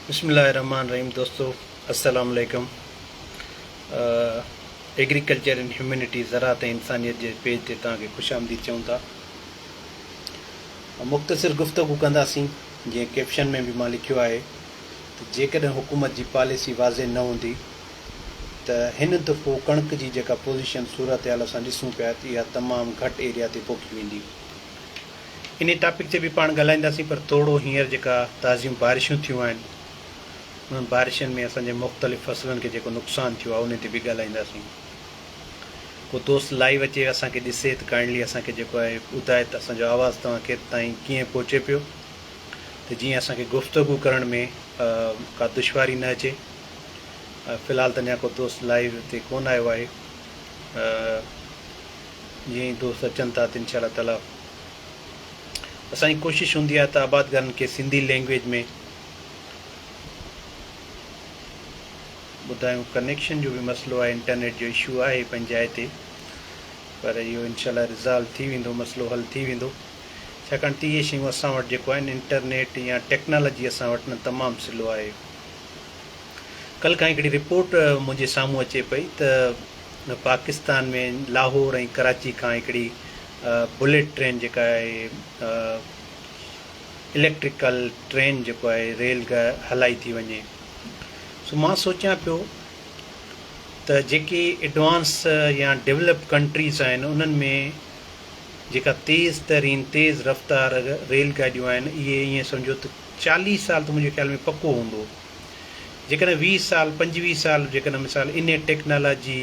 بسم الله الرحمن الرحيم دوستو السلام عليڪم ايگريڪلچر ان هيومينٽي زراعت ۽ انسانيت جي پيج تي توهان کي خوش آمديد چئون ٿا مختصر گفتگو ڪنداسين جيئن ڪيپشن ۾ به مان لکيو آهي ته جيڪڏهن حڪومت جي پاليسي واضح نه هوندي ته هن دفعو ڪڻڪ جي جيڪا پوزيشن صورتحال اسان ڏسون پيا ته اها تمام گهٽ ايريا تي پوکي ويندي انهي ٽاپڪ تي به پاڻ ڳالهائينداسين پر توڙو هينئر جيڪا تازيون بارشون ٿيون آهن انهن بارشن ۾ اسان جي مختلف فصلن کي جيڪو نقصان ٿيو آهي انهي تي به ڳالهائينداسين. ڪو دوست لائيو اچي اسان کي ڏسي ته ڪائنڊلي اسان کي جيڪو آهي ٻڌائي ته اسان جو آواز توهان ڪير تائين ڪيئن پهچي پيو ته جيئن اسان کي گفتگو ڪرڻ ۾ ڪا دشواري نه اچي. في الحال ته اڃا ڪو دوست لائيو تي ڪونه آيو آهي. جيئن ئي دوست اچن ٿا ته انشاء الله تعاليٰ اسان جي ڪوشش هوندي آهي ته آبادگارن کي سنڌي لينگويج ۾ ٻڌايون ڪنيڪشن جو به مسئلو آهي انٽرنيٽ جو اشو آهي پنهنجي جاء تي پر اهو انشاء الله ريزالو ٿي ويندو مسئلو حل ٿي ويندو ڇاڪاڻ ته اهي شيون اسان وٽ جيڪو آهن انٽرنيٽ يا ٽيڪنالاجي اسان وٽ نه تمام سلو آهي ڪل کان هڪڙي رپورٽ منهنجي سامهون اچي پئي ته پاڪستان ۾ لاهور ۽ ڪراچي کان هڪڙي بليٽ ٽرين جيڪا آهي اليڪٽريڪل ٽرين جيڪو آهي ريل هلائي ٿي وڃي سو مان سوچيان پيو ته جيڪي ايڊوانس يا ڊيولپ ڪنٽريز آهن انهن ۾ جيڪا تيز ترين تيز رفتار ريل گاڏيون آهن اهي ائين سمجهو ته چاليهه سال ته منهنجي خيال ۾ پڪو هوندو جيڪڏهن ويهه سال پنجويهه سال جيڪڏهن مثال انهي ٽيڪنالاجي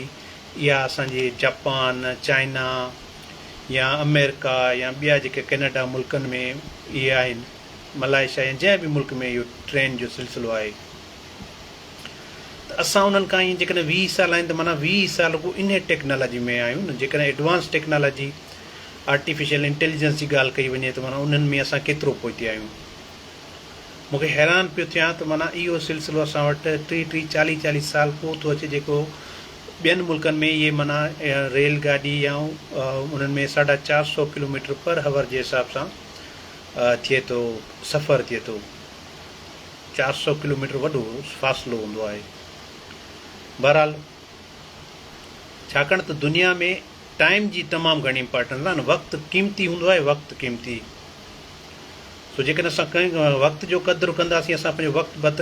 اها اسان جي جاپان، چائنا يا آمريڪا يا ٻيا جيڪي ڪينيڊا ملڪن ۾ اهي آهن ملائيشيا يا جنهن به ملڪ ۾ اهو ٽرين جو سلسلو آهي ته اسان انهن کان ايئن جيڪڏهن ويهه سال آهن ته معنيٰ ويهه سال رڳو انهي ٽيڪنالاجي ۾ آهيون نه جيڪڏهن ايڊوانس ٽيڪنالاجي آرٽيفيشل انٽيليجنس جي ڳالهه ڪئي وڃي ته معنيٰ انهن ۾ اسان ڪيترو پهتي آهيون. مون کي حيران پيو ٿيان ته معنيٰ اهو سلسلو اسان وٽ ٽيهه ٽيهه چاليهه چاليهه سال ڪو ٿو اچي جيڪو ٻين ملڪن ۾ اهي معنيٰ ريل گاڏي يا انهن ۾ ساڍا چار سؤ ڪلوميٽر پر هور جي حساب سان ٿئي ٿو سفر ٿئي ٿو چار سؤ ڪلوميٽر وڏو فاصلو هوندو آهي بهرحال ڇاڪاڻ ته دنيا ۾ ٽائيم جي تمام گهڻي امپارٽنس آهي نه وقت قيمتي هوندو آهي وقت قيمتي سو جيڪڏهن اسان ڪنهن وقت جو قدر ڪنداسين اسان پنهنجو وقت بت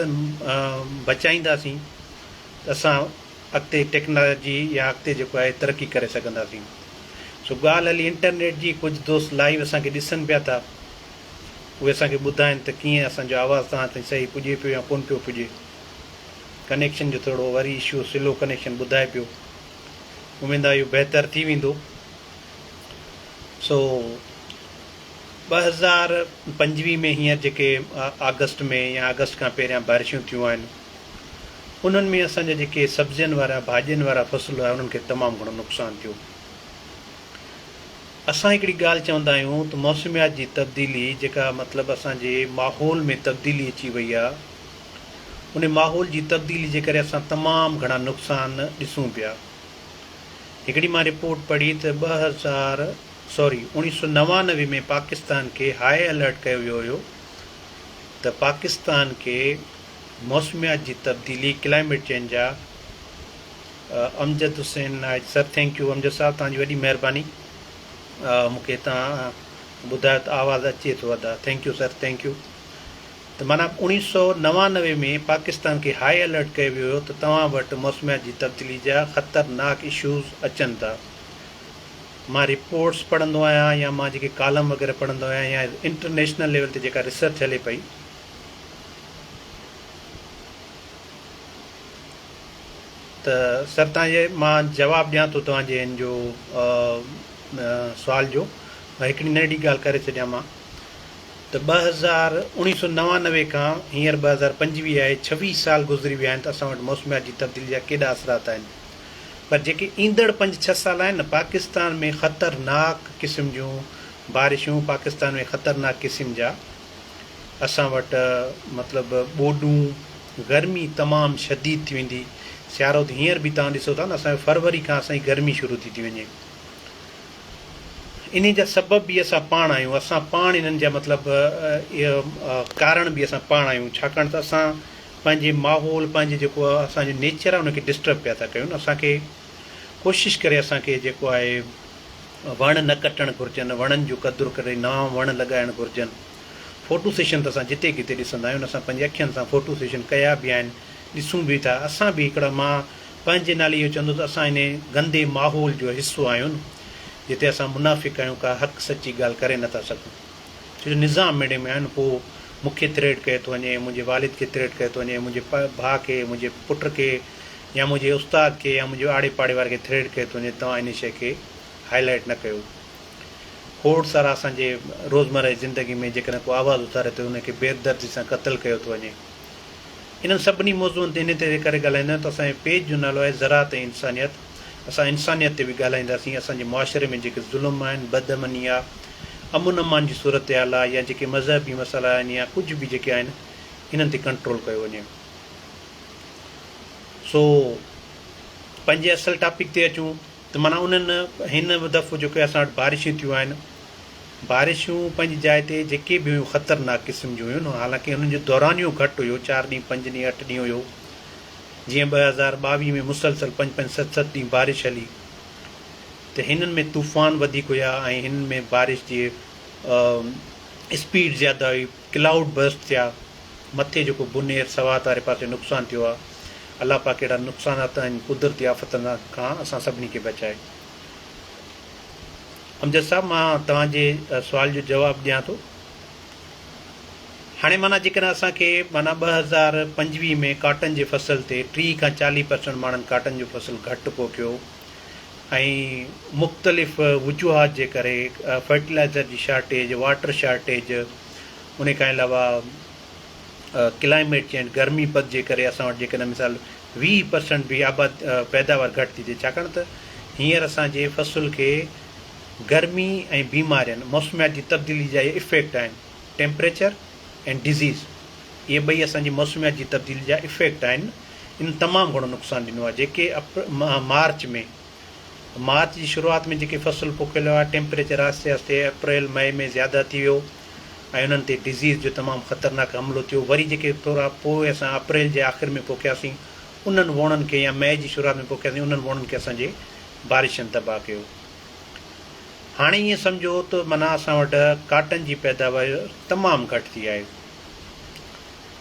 بچائينداسين ته اسان اڳتي ٽيڪنالاجي يا اڳتي جيڪو آهي ترقي ڪري سگهنداسين سو ڳالهه هلي انٽرنيٽ جي ڪجهه دوست لائيو اسانکي ڏسن پيا ٿا اهي اسانکي ٻڌائن ته ڪيئن اسانجو آواز توهان تائين صحيح پڄي پيو يا ڪونه پيو پڄي ڪنيڪشن جو ٿورو وري اشو سلو ڪنيڪشن ٻڌائي پيو اميد آ اهو بهتر ٿي ويندو سو ٻه هزار پنجويهه ۾ هينئر جيڪي آگسٽ ۾ يا آگسٽ کان پهريان بارشون ٿيون آهن انهن ۾ اسان جا جيڪي سبزين وارا ڀاڄين وارا فصل هئا انهن کي تمام گهڻو نقصان ٿيو اسان هڪڙي ڳالهه چوندا آهيون ته موسميات جي تبديلي جيڪا مطلب اسان جي ماحول ۾ تبديلي اچي وئي آهي ان ماحول جي تبديلي جي ڪري اسان تمام گهڻا نقصان ڏسون پيا. هڪڙي مان رپورٽ پڙهي ته ٻه هزار سوري اوڻيهه سؤ نوانوي ۾ پاڪستان کي هاء الرٽ ڪيو ويو هيو ته پاڪستان کي موسميات جي تبديلي ڪلائميٽ چينج جا امجد حسين نائيڊ سر ٿينڪ يو امجد صاحب توهان جي وڏي مهرباني مون کي توهان ٻڌايو ته آواز اچي ٿو ادا thank you sir thank you ته معنيٰ اوڻيهه سؤ نوانوي ۾ پاڪستان کي هائي الرٽ ڪيو ويو هيو ته توهان وٽ موسميات جي تبديلي جا خطرناڪ اشوز اچن ٿا. مان رپورٽس پڙهندو آهيان يا مان جيڪي ڪالم وغيره پڙهندو آهيان يا انٽرنيشنل ليول تي جيڪا ريسرچ هلي پئي، ته سر توهان جي مان جواب ڏيان ٿو توهان جي هن جو سوال جو ۽ هڪڙي ننڍڙي ڳالهه ڪري ڇڏيان مان. ته ٻه هزار، اڻيهه سؤ نوانوي کان هينئر ٻه هزار پنجويهه آهي، ڇويهه سال گذري ويا آهن ته اسان وٽ موسميات جي تبديلي جا ڪيڏا اثرات آهن پر جيڪي ايندڙ پنج ڇهه سال آهن نه پاڪستان ۾ خطرناڪ قسم جون بارشون پاڪستان ۾ خطرناڪ قسم جا اسان وٽ مطلب ٻوڏون گرمي تمام شديد ٿي ويندي سيارو ته هينئر به توهان ڏسو ٿا نه اسان جو فروري کان اسان جي گرمي شروع ٿي ٿي وڃي. انهيء جا سبب به اسان پاڻ آهيون، اسان پاڻ انهن جا مطلب ڪارڻ به اسان پاڻ آهيون، ڇاڪاڻ ته اسان پنهنجي ماحول، پنهنجي جيڪو اسان جو نيچر آهي ان کي ڊسٽرب پيا ٿا ڪيون، اسان کي ڪوشش ڪري اسان کي جيڪو آهي وڻ نه ڪٽڻ گهرجن، وڻن جو قدر ڪري نوان وڻ لڳائڻ گهرجن، فوٽو سيشن ته اسان جتي ڪٿي ڏسندا آهيون، اسان پنهنجي اکين سان فوٽو سيشن ڪيا به آهن، ڏسون به ٿا، اسان به هڪڙا مان. پنهنجي نالي اهو چوندو ته اسان انهي گندي ماحول جو حصو آهيون جتي اسان منافق آهيون ڪا حق سچي ڳالهه ڪري نه ٿا سگهون ڇو جو نظام ميڙي ۾ آهن پوء مون کي ٿريٽ ڪيو ٿو وڃي منهنجي والد کي ٿريٽ ڪيو ٿو وڃي منهنجي ڀاء کي منهنجي پٽ کي يا منهنجي استاد کي يا منهنجي آڙي پاڙي واري کي ٿريٽ ڪيو ٿو وڃي توهان انهي شئي کي هائي لائيٽ نه ڪيو کوڙ سارا اسان جي روزمره جي زندگي ۾ جيڪڏهن ڪو آواز اٿاري ٿو انهي کي بيدردي سان قتل ڪيو ٿو وڃي. انهن سڀني موضوعن تي انهي طرح ڪري ڳالهائيندو آهيان ته اسان جي پيج جو نالو آهي زراعت ۽ انسانيت اسان انسانيت تي به ڳالهائينداسين اسان جي معاشري ۾ جيڪي ظلم آهن بد امني آ امن امان جي صورتحال آ يا جيڪي مذهبي مسئلا آهن يا ڪجهه به جيڪي آهن انهن تي ڪنٽرول ڪيو وڃي سو پنهنجي اصل ٽاپڪ تي اچون ته معنيٰ انهن هن دفعو جيڪي اسان وٽ بارشون ٿيون آهن، بارشون پنهنجي جاء تي جيڪي به هيون خطرناڪ قسم جون هيون، حالانڪه انهن جو دورانيو گهٽ هيو، چار ڏينهن، پنج ڏينهن، اٺ ڏينهن هيو، جيئن ٻه هزار ٻاويهه ۾ مسلسل پنج پنج ست ست ڏينهن بارش هلي ته هنن ۾ طوفان وڌيڪ هيا ۽ هنن ۾ بارش جي اسپيڊ زياده هئي. ڪلائوڊ برسٽ ٿيا مٿي جيڪو بونير سوات واري پاسي نقصان ٿيو آ الله پاڪ اهڙا نقصانات ۽ قدرتي آفتن کان اسان سڀني کي بچائي. امجد صاحب مان توهان جي سوال جو جواب ڏيان ٿو هاڻي معنيٰ جيڪڏهن اسان کي معنيٰ ٻه هزار پنجويهه ۾ ڪاٽن جي فصل تي ٽيهه کان چاليهه پرسنٽ ماڻهن ڪاٽن جو فصل گهٽ پوکيو ۽ مختلف وجوهات جي ڪري فرٽيلائزر جي شارٽيج، واٽر شارٽيج ان کان علاوه ڪلائميٽ چينج گرمي پد جي ڪري اسان وٽ جيڪڏهن مثال ويهه پرسنٽ به آباد پيداوار گهٽ ٿي ٿئي ڇاڪاڻ ته هينئر اسان جي فصل کي گرمي ۽ بيمارين موسميات جي تبديلي جا اهي افيڪٽ آهن ٽيمپريچر ۽ ڊزيز اهي ٻئي اسان جي موسميات جي تبديلي جا افيڪٽ آهن ان تمام گهڻو نقصان ڏنو آهي جيڪي مارچ ۾ مارچ جي شروعات ۾ جيڪي فصل پوکيل هئا ٽيمپريچر آهستي آهستي اپريل مئي ۾ زياده ٿي ويو ۽ انهن تي ڊزيز جو تمام خطرناڪ حملو ٿيو وري جيڪي ٿورا پوء اسان اپريل جي آخر ۾ پوکياسين انهن ووڻن کي يا مئي جي شروعات ۾ پوکياسين انهن ووڻن کي اسان جي بارشن تباهه ڪيو هاڻي ائين سمجهو ته منا اسان وٽ ڪاٽن جي پيداوار تمام گهٽ ٿي آهي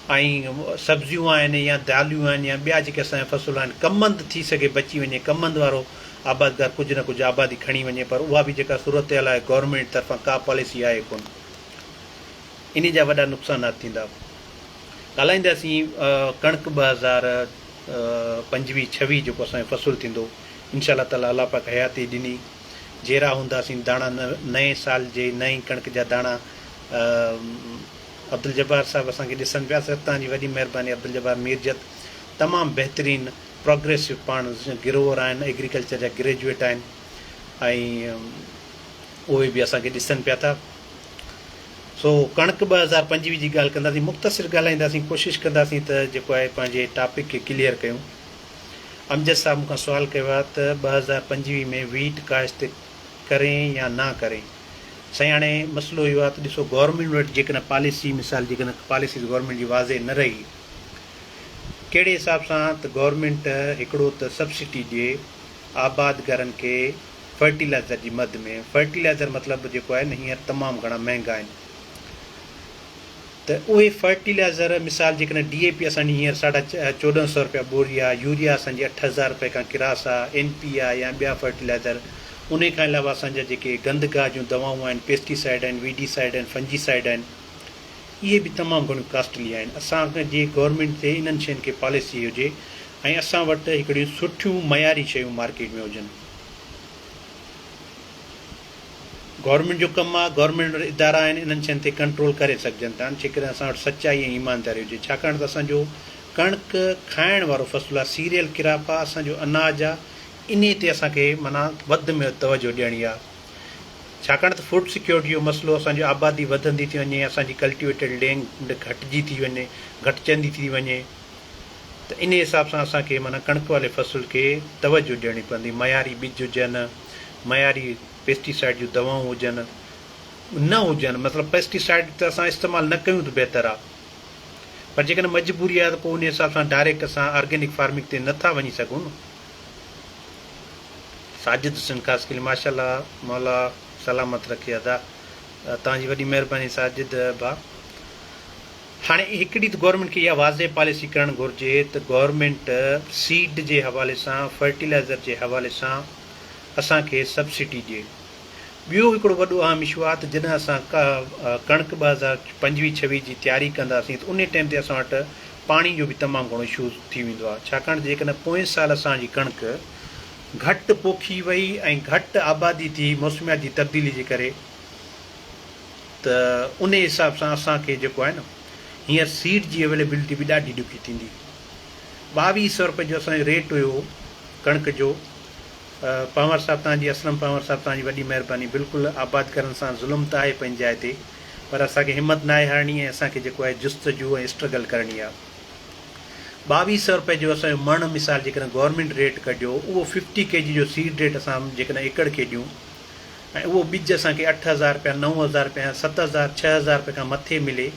۽ سبزيون آهن يا داليون آهن يا ٻيا جيڪي اسان جا فصل آهن ڪمند ٿي سگهي بچي وڃي ڪمند وارو آبادگار ڪجهه نه ڪجهه آبادي کڻي وڃي پر اها به جيڪا صورتحال آهي گورنمينٽ طرفان ڪا پاليسي آهي ڪونه انهي جا وڏا نقصانات ٿيندا ڳالهائينداسين ڪڻڪ ٻه هزار پنجويهه ڇويهه جيڪو اسان جو فصل ٿيندو انشاء الله تعالي الله پاڪ حياتي ڏني جيرا هونداسين داڻا نئين سال جي نئين ڪڻڪ جا داڻا عبدالجبار صاحب اسان کي ڏسن پيا سر توهان جي وڏي مهرباني عبدالجبار ميرجت تمام بهترين پروگريسو پاڻ گروور آهن ايگريڪلچر جا گريجويٽ آهن ۽ اهي به اسان کي ڏسن پيا ٿا سو ڪڻڪ ٻه هزار پنجويهه جي ڳالهه ڪنداسين مختصر ڳالهائينداسين ڪوشش ڪنداسين ته جيڪو آهي پنهنجي ٽاپڪ کي ڪليئر ڪيون امجد صاحب مون کان سوال ڪيو آهي ته ٻه هزار پنجويهه ۾ ويٽ ڪاشت ڪرين يا نه ڪرين سائين هاڻي مسئلو اهو آهي ته ڏسو گورنمينٽ وٽ جيڪڏهن پاليسي مثال جيڪڏهن پاليسيز گورنمينٽ جي واضح نه رهي ڪهڙي حساب سان ته گورنمينٽ هڪڙو ته سبسڊي ڏي آباد گهرن کي فرٽيلائزر جي مد ۾ فرٽيلائزر مطلب جيڪو آهي نه هينئر تمام گهڻا مهنگا آهن ته اهي فرٽيلائزر مثال جيڪڏهن ڊي اي پي اسان جي هينئر ساڍا چوڏهن سؤ رپيا ٻوري آ، يوريا اسان جي اٺ هزار رپئي کان ڪراس آ، اين پي آ يا ٻيا فرٽيلائزر انهي کان علاوه اسان جا جيڪي گند گاهه جون دوائون آهن پيسٽي سائيڊ آهن، وي ڊي سائيڊ آهن، فنجي سائيڊ آهن اهي به تمام گهڻيون ڪاسٽلي آهن اسان جي گورنمينٽ تي انهن شين کي پاليسي هجي ۽ اسان وٽ هڪڙيون سٺيون معياري شيون مارڪيٽ ۾ هجن. گورنمينٽ جو ڪم آهي، گورنمينٽ وٽ ادارا آهن، انهن شين تي ڪنٽرول ڪري سگهجن ٿا جيڪڏهن اسان وٽ سچائي ۽ ايمانداري هجي ڇاڪاڻ ته اسان جو ڪڻڪ کائڻ وارو فصل آهي، سيريل ڪراپ آهي، اسان جو اناج آهي، انهي تي اسان کي معنيٰ وڌ ۾ وڌ توجهه ڏيڻي آهي ڇاڪاڻ ته فوڊ سيڪيورٽي جو مسئلو اسان جي آبادي وڌندي ٿي وڃي اسان جي ڪلٽيويٽيڊ لينڊ گهٽجي ٿي وڃي گهٽجندي ٿي وڃي ته انهي حساب سان اسان کي معنيٰ ڪڻڪ واري فصل کي توجهه ڏيڻي پوندي معياري ٻج هجن. معياري پيسٽي سائيڊ جون دوائون هجن نه هجن مطلب پيسٽي سائيڊ ته اسان استعمال نه ڪيون ته بهتر آ پر جيڪڏهن مجبوري آهي ته پوء ان حساب سان ڊائريڪٽ اسان آرگينڪ فارمنگ تي نه ٿا وڃي سگهون نه ساجد حسين خاصخيلي ماشاءالله مولا سلامت رکي ادا توهان جي وڏي مهرباني ساجد ڀا هاڻي هڪ ڏي ته گورنمينٽ کي اها واضح پاليسي ڪرڻ گهرجي ته گورنمينٽ سيڊ جي حوالي سان فرٽيلائزر جي حوالي سان اسان کي سبسڊي ڏي. ٻيو هڪڙو وڏو اهم اشو آهي ته جڏهن اسان ڪڻڪ ٻه هزار پنجويهه ڇويهه جي تياري ڪنداسين ته انهي ٽائيم تي اسان وٽ پاڻي جو به تمام گهڻو اشو ٿي ويندو آهي ڇاڪاڻ ته جيڪڏهن پوئين سال اسان جي ڪڻڪ گهٽ پوکي وئي ۽ گهٽ آبادي ٿي موسميات جي تبديلي جي ڪري ته انهي حساب سان اسان کي جيڪو آهي نه هينئر سيڊ جي اويليبلٽي به ڏاڍي ڏکي ٿيندي. ٻاويهه سئو رپئي جو اسان جو ريٽ هيو ڪڻڪ جو. پنهور صاحب توهان جي اسلم پنهور صاحب توهان جي وڏي مهرباني بلڪل آباد ڪرڻ سان ظلم ته آهي پنهنجي جاء تي پر اسان کي همت ناهي هارڻي ۽ اسان کي جيڪو آهي جستجو ۽ اسٽرگل ڪرڻي آهي. ٻاويهه سئو رپئي جو اسان جو مڻ مثال جيڪڏهن گورنمينٽ ريٽ ڪڍيو اهو ففٽي ڪي جي جو سيڊ ريٽ اسان جيڪڏهن ايڪڙ کي ڏيون ۽ اهو ٻج اسان کي اٺ هزار رپيا، نو هزار رپيا يا ست هزار، ڇهه هزار رپيا کان مٿي ملي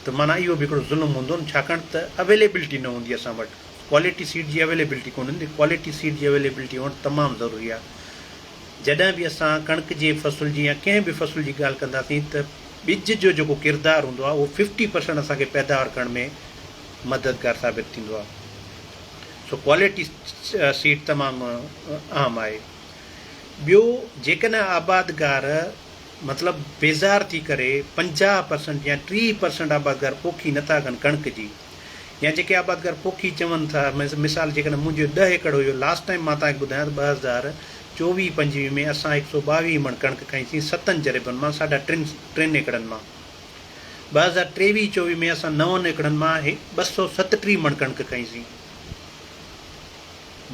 ته معنيٰ اهو به هڪڙو ظلم هوندو نه ڇاڪاڻ ته اويليبلٽي نه هوندي اسان وٽ ڪوالٽي سيڊ جي اويليبلٽي ڪونه هوندي ڪوالٽي سيڊ جي اويليبلٽي هئڻ تمام ضروري آهي جڏهن به اسان ڪڻڪ جي فصل جي يا ڪنهن به فصل جي ڳالهه ڪنداسين ته ٻج جو جيڪو ڪردار هوندو آهي اهو ففٽي پرسنٽ اسان کي پيداوار ڪرڻ ۾ مددگار ثابت ٿيندو آهي سو ڪوالٽي سيڊ تمام اهم آهي. ٻيو جيڪڏهن آبادگار مطلب بيزار ٿي ڪري پنجاهه پرسنٽ يا ٽيهه پرسنٽ آبادگار پوکي نه ٿا ڪن ڪڻڪ جي يا جيڪي آبادگار پوکي چون ٿا مثال جيڪڏهن منهنجو ڏهه ايڪڙ هيو لاسٽ ٽائيم مان توهان کي ٻڌايان ته ٻه هزار چوويهه پنجويهه ۾ اسان هڪ سؤ ٻاويهه مڻ ڪڻڪ کائي سين ستن جريبن مان ساڍا ٽن ٽن ايڪڙن مان ٻه هزار ٽيويهه چوويهه ۾ اسان نون ايڪڙن مان ٻه سؤ ستٽيهه مڻ ڪڻڪ کائي سين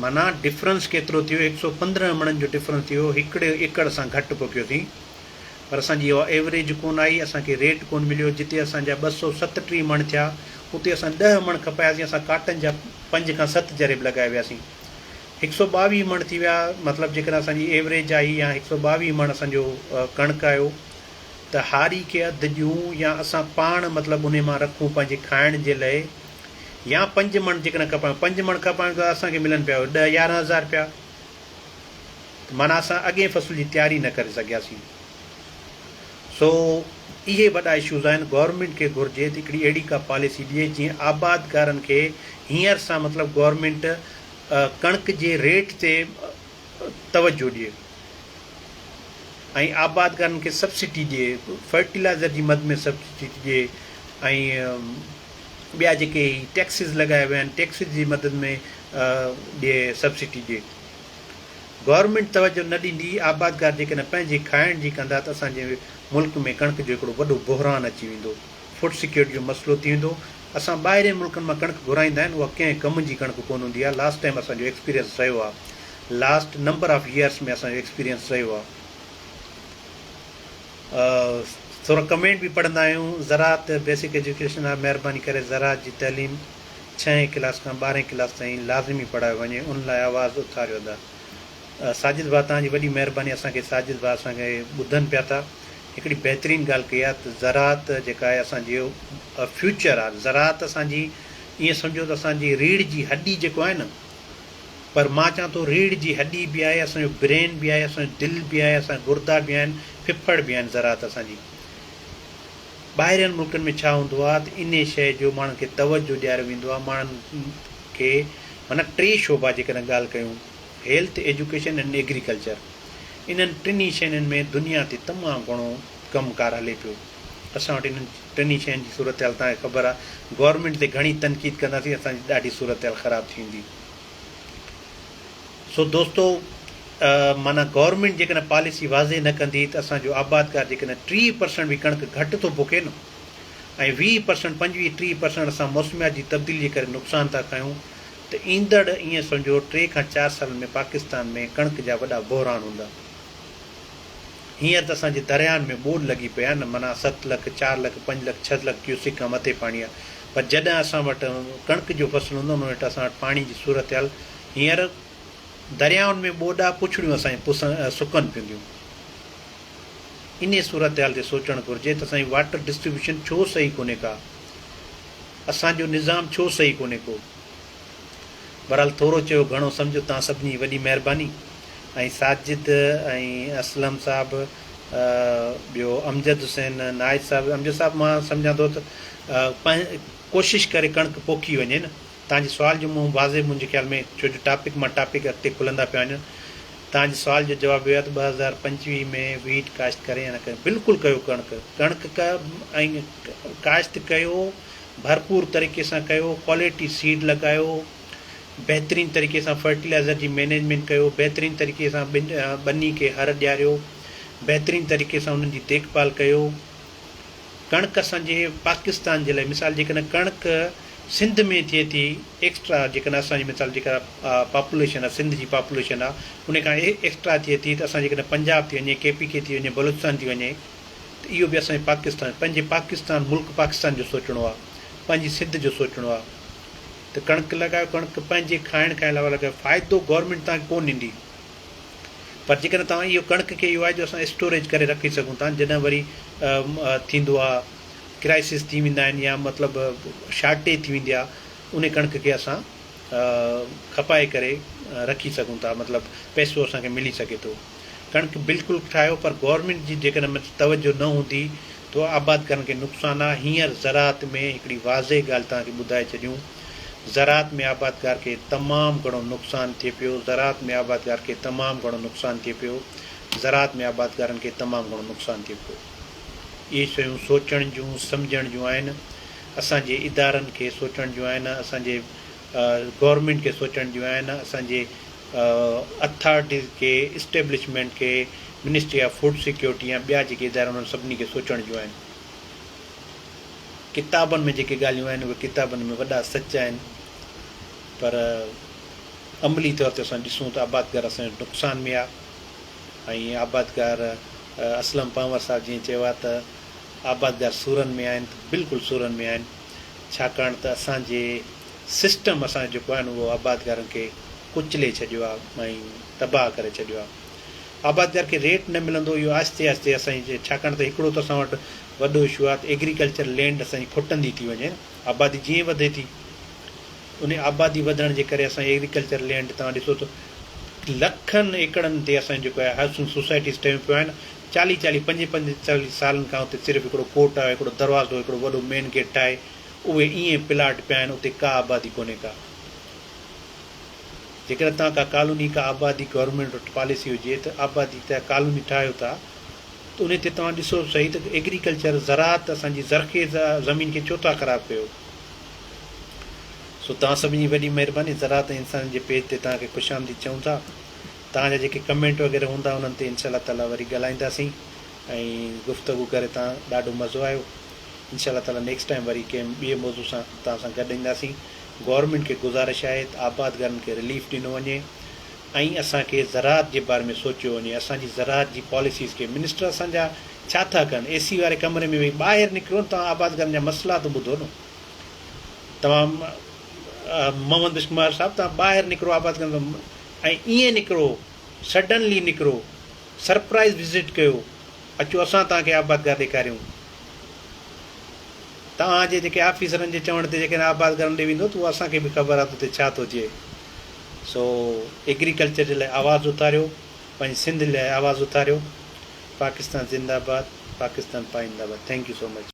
معنيٰ ڊفرنس ڪيترو ٿيو هڪ سئو پندرهن مڻن جو ڊفرنس ٿيو هڪڙي ايڪڙ سان گهٽ پکيو ٿي پر اسان جي اها ايوريج ڪون آئي اسان کي ريٽ ڪون مليو جتي اسان جا ٻه سئو ستٽيهه مڻ ٿيا اتي اسان ڏهه مڻ کپاياسين اسان ڪاٽن جا پنج کان ست جريب لڳائي وياسين هڪ سئو ٻاويهه مڻ ٿي ويا مطلب جيڪڏهن اسان جي ايوريج آئي يا هڪ سئو ٻاويهه مڻ اسان جو ڪڻڪ آيو ته هاري کي اڌ ڏيون يا اسان پاڻ مطلب انهي مان رکون پنهنجي کائڻ جي لئي يا پنج مڻ جيڪڏهن کپن ها پنج مڻ کپن ها ته اسان کي ملن پيا اهي ڏهه يارهن هزار رپيا ته معنيٰ اسان اڳئين فصل جي تياري نه ڪري سگهياسين سو اهي وڏا اشوز آهن گورنمينٽ کي گهرجي ته هڪڙي اهڙي ڪا پاليسي ڏئي جيئن آبادگارن کي هينئر سان مطلب گورنمينٽ ڪڻڪ جي ريٽ تي توجهه ڏئي ۽ آبادگارن کي سبسڊي ڏئي فرٽيلائزر جي مد ۾ سبسڊي ڏئي ۽ ٻيا جيڪي هي ٽيڪسز لڳايا ويا آهن ٽيڪسز جي مدد ۾ ڏي سبسڊي ڏي گورنمينٽ توجه نه ڏيندي آبادگار جيڪڏهن پنهنجي کائڻ جي ڪندا ته اسان جي ملڪ ۾ ڪڻڪ جو هڪڙو وڏو بحران اچي ويندو فوڊ سيڪيورٽي جو مسئلو ٿي ويندو اسان ٻاهرين ملڪن مان ڪڻڪ گهرائيندا آهن اها ڪنهن ڪم جي ڪڻڪ ڪونه هوندي آهي لاسٽ ٽائيم اسان جو ايڪسپيرينس رهيو آهي لاسٽ نمبر آف ييئرس ۾ اسان جو ايڪسپيرينس رهيو آهي ٿورا ڪمينٽ به پڙهندا آهيون زراعت بيسڪ ايجوڪيشن آهي مهرباني ڪري زراعت جي تعليم ڇهين ڪلاس کان ٻارهين ڪلاس تائين لازمي پڙهايو وڃي ان لاء آواز اٿاريو ادا ساجد ڀاء توهان جي وڏي مهرباني اسان کي ساجد ڀاء اسان کي ٻڌن پيا ٿا هڪڙي بهترين ڳالهه ڪئي آهي ته زراعت جيڪا آهي اسان جي فيوچر آهي زراعت اسان جي ائين سمجهو ته اسان جي ريڙهه جي هڏي جيڪو آهي نه پر مان چوان ٿو ريڙهه جي هڏي به آهي، اسان جو برين به آهي، اسان جو دل به آهي، اسان جا گردا به آهن، ڦڦڙ به آهن زراعت اسان جي. ٻاهرين ملڪن ۾ ڇا هوندو آهي ته انهي شيء جو ماڻهن کي توجهه ڏياريو ويندو آهي ماڻهن کي معنيٰ ٽي شعبا جيڪڏهن ڳالهه ڪيون هيلٿ، ايجوڪيشن ۽ ايگريڪلچر انهن ٽنهي شينهن ۾ دنيا تي تمام گهڻو ڪم ڪار هلي پيو. اسان وٽ انهن ٽنهي شين جي صورتحال توهان کي خبر آ گورنمينٽ تي گهڻي تنقيد ڪنداسين اسان جي ڏاڍي صورتحال خراب ٿيندي سو دوستو معنيٰ گورنمينٽ جيڪڏهن پاليسي واضح نه ڪندي ته اسان جو آبادگار جيڪڏهن ٽي پرسنٽ به ڪڻڪ گهٽ ٿو پوکي نه ۽ ويهه پرسنٽ پنجويهه ٽي پرسنٽ اسان موسميات جي تبديلي جي ڪري نقصان ٿا کائون ته ايندڙ ائين سمجهو ٽي کان چار سالن ۾ پاڪستان ۾ ڪڻڪ جا وڏا بحران هوندا. هينئر ته اسان جي درياهن ۾ ٻوڏ لڳي پئي آهي نه منا ست لک، چار لک، پنج لک، ڇهه لک ڪيوسڪ کان مٿي پاڻي آهي پر جڏهن اسان وٽ ڪڻڪ جو فصل هوندو ان وٽ اسان وٽ پاڻي جي صورتحال هينئر درياهن ۾ ٻوڏ آهي پڇڙيون اسان جون پسن سڪن پينديون انهي صورتحال تي سوچڻ گهرجي ته اسان جي واٽر ڊسٽريبيوشن ڇو صحيح ڪونهي ڪا اسان جو نظام ڇو صحيح ڪونهي ڪو بھرحال ٿورو چيو گھڻو سمجھو تان سڀني وڏي مھرباني ۽ ساجد ۽ اسلم صاحب ٻيو امجد حسين نائچ صاحب امجد صاحب مان سمجھان ٿو ته ڪوشش ڪري ڪڻڪ پوکي وڃي نه تان جي سوال جو منهن واضح منهنجي خيال ۾ ڇو جو ٽاپڪ مان ٽاپڪ اڳتي کلندا پيا وڃن تان جي سوال جو جواب اهو آهي ته ٻه هزار پنجويهه ۾ ويٽ ڪاشت ڪري يا نه ڪري بلڪل ڪيو ڪڻڪ ڪڻڪ ڪا ۽ ڪاشت ڪيو ڀرپور طريقي سان ڪيو، ڪوالٽي سيڊ لڳايو، بهترين طريقي سان فرٽيلائزر جي مينيجمينٽ ڪيو، بهترين طريقي سان ٻني کي هر ڏياريو، بهترين طريقي سان انهن جي ديک ڀال ڪيو، ڪڻڪ اسان جي پاڪستان جي لاء مثال جيڪڏهن ڪڻڪ سنڌ ۾ ٿئي ٿي ايڪسٽرا جيڪڏهن اسان جي مثال جيڪا پاپوليشن آهي سنڌ جي پاپوليشن آهي ان کان ايڪسٽرا ٿئي ٿي ته اسان جيڪڏهن پنجاب ٿي وڃي ڪي پي ڪي ٿي وڃي بلوچستان ٿي وڃي ته اهو به اسان جي پاڪستان پنهنجي پاڪستان ملڪ پاڪستان جو سوچڻو آهي پنهنجي سنڌ جو سوچڻو آهي ته ڪڻڪ لڳايو ڪڻڪ پنهنجي کائڻ کان علاوه لڳايو فائدو گورنمينٽ توهان کي ڪو ڏيندي پر جيڪڏهن توهان اهو ڪڻڪ کي اهو آهي جو اسان اسٽوريج ڪري رکي سگهون ٿا جڏهن وري ٿيندو آهي ڪرائسس ٿي ويندا آهن يا مطلب شارٽيج ٿي ويندي آهي ان ڪڻڪ کي اسان کپائي ڪري رکي سگهون ٿا مطلب پئسو اسان کي ملي سگهي ٿو ڪڻڪ بلڪل ٺاهيو پر گورنمينٽ جي جيڪڏهن ان تي توجه نه هوندي تو آبادگارن کي نقصان آ هينئر زراعت ۾ هڪڙي واضح ڳالهه توهان کي ٻڌائي ڇڏيون زراعت ۾ آبادگار کي تمام گهڻو نقصان ٿئي پيو زراعت ۾ آبادگار کي تمام گهڻو نقصان ٿئي پيو زراعت ۾ آبادگارن کي تمام گهڻو نقصان ٿئي پيو اهي شيون سوچڻ جون سمجهڻ جون آهن اسان جي ادارن کي سوچڻ جون آهن اسان جي گورنمينٽ کي سوچڻ جون آهن اسان جي اٿارٽيز کي، اسٽيبلشمينٽ کي، منسٽري آف فوڊ سيڪيورٽي يا ٻيا جيڪي ادارا آهن انهن سڀني کي سوچڻ جون آهن. ڪتابن ۾ جيڪي ڳالهيون آهن اهي ڪتابن ۾ وڏا سچ آهن پر عملي طور تي اسان ڏسون ته آبادگار اسان جو نقصان ۾ آهي ۽ آبادگار اسلم پنهور صاحب جيئن چيو آهي ته آبادگار سورن ۾ آهن ته بلڪل سورن ۾ آهن. ڇاڪاڻ ته اسان جي سسٽم اسان جو جيڪو آهي نه اهو آبادگارن کي ڪچلي ڇڏيو آهي ۽ تباهه ڪري ڇڏيو آهي. آبادگار کي ريٽ نه ملندو اهو آهستي آهستي اسان جي ڇاڪاڻ ته هڪڙو ته اسان وٽ وڏو اشو آهي ته ايگريڪلچر لينڊ اسان جي کٽندي ٿي وڃي نه آبادي جيئن وڌي ٿي انهي آبادي وڌڻ جي ڪري اسان ايگريڪلچر لينڊ توهان ڏسو ته لکن ايڪڙن تي اسان جيڪو آهي هائوسنگ سوسائٽيز ٺهيون پيون آهن چاليهه چاليهه پنج پنج چاليهه سالن کان اتي صرف هڪڙو ڪوٽ آهي، هڪڙو دروازو، هڪڙو وڏو مين گيٽ ٺاهي اهي ائين پلاٽ پيا آهن، اتي ڪا آبادي ڪونهي ڪا. جيڪڏهن اتان ڪا ڪالوني ڪا آبادي گورنمينٽ وٽ پاليسي هجي ته آبادي ته ڪالوني ٺاهيو ٿا ته انهي تي توهان ڏسو صحيح ته ايگريڪلچر زراعت اسان جي زرخيز زمين کي ڇو ٿا خراب ڪيو. سو توهان سڀني جي وڏي مهرباني زراعت ۽ انسانن جي پيج تي توهان کي خوش آمديد چئون ٿا. توهان جا جيڪي ڪمينٽ وغيره هوندا انهن تي انشاء الله تعالي وري ڳالهائينداسين ۽ گفتگو ڪري توهان ڏاڍو مزو آيو انشاء الله تعالي نيڪسٽ ٽائيم وري ڪنهن ٻئي موضوع سان توهان سان گڏ اينداسين گورنمينٽ کي گذارش آهي ته آبادگارن کي رليف ڏنو وڃي ۽ اسان کي زراعت جي باري ۾ سوچيو وڃي اسان جي زراعت جي پاليسيز کي منسٽر اسان جا ڇا ٿا ڪن اي سي واري ڪمري ۾ ويهي ٻاهر نڪرو توهان آبادگارن جا مسئلا ته ٻڌو نه توهان محمد بشمار صاحب توهان ٻاهر نڪرو آبادگارن ۽ ائين نڪرو، سڊنلي نڪرو، سرپرائيز وزٽ ڪيو، اچو اسان توهان کي آبادگار ڏيکاريون. توهان جي جيڪي آفيسرن جي چوڻ تي جيڪڏهن آبادگار ڏي ويندو ته اهو اسان کي به خبر آهي ته اتي ڇا ٿو ٿئي. سو ايگريڪلچر جي لاء آواز اٿاريو، پنهنجي سنڌ لاء آواز اٿاريو. پاڪستان زنده آباد، پاڪستان پائنده آباد. Thank you so much.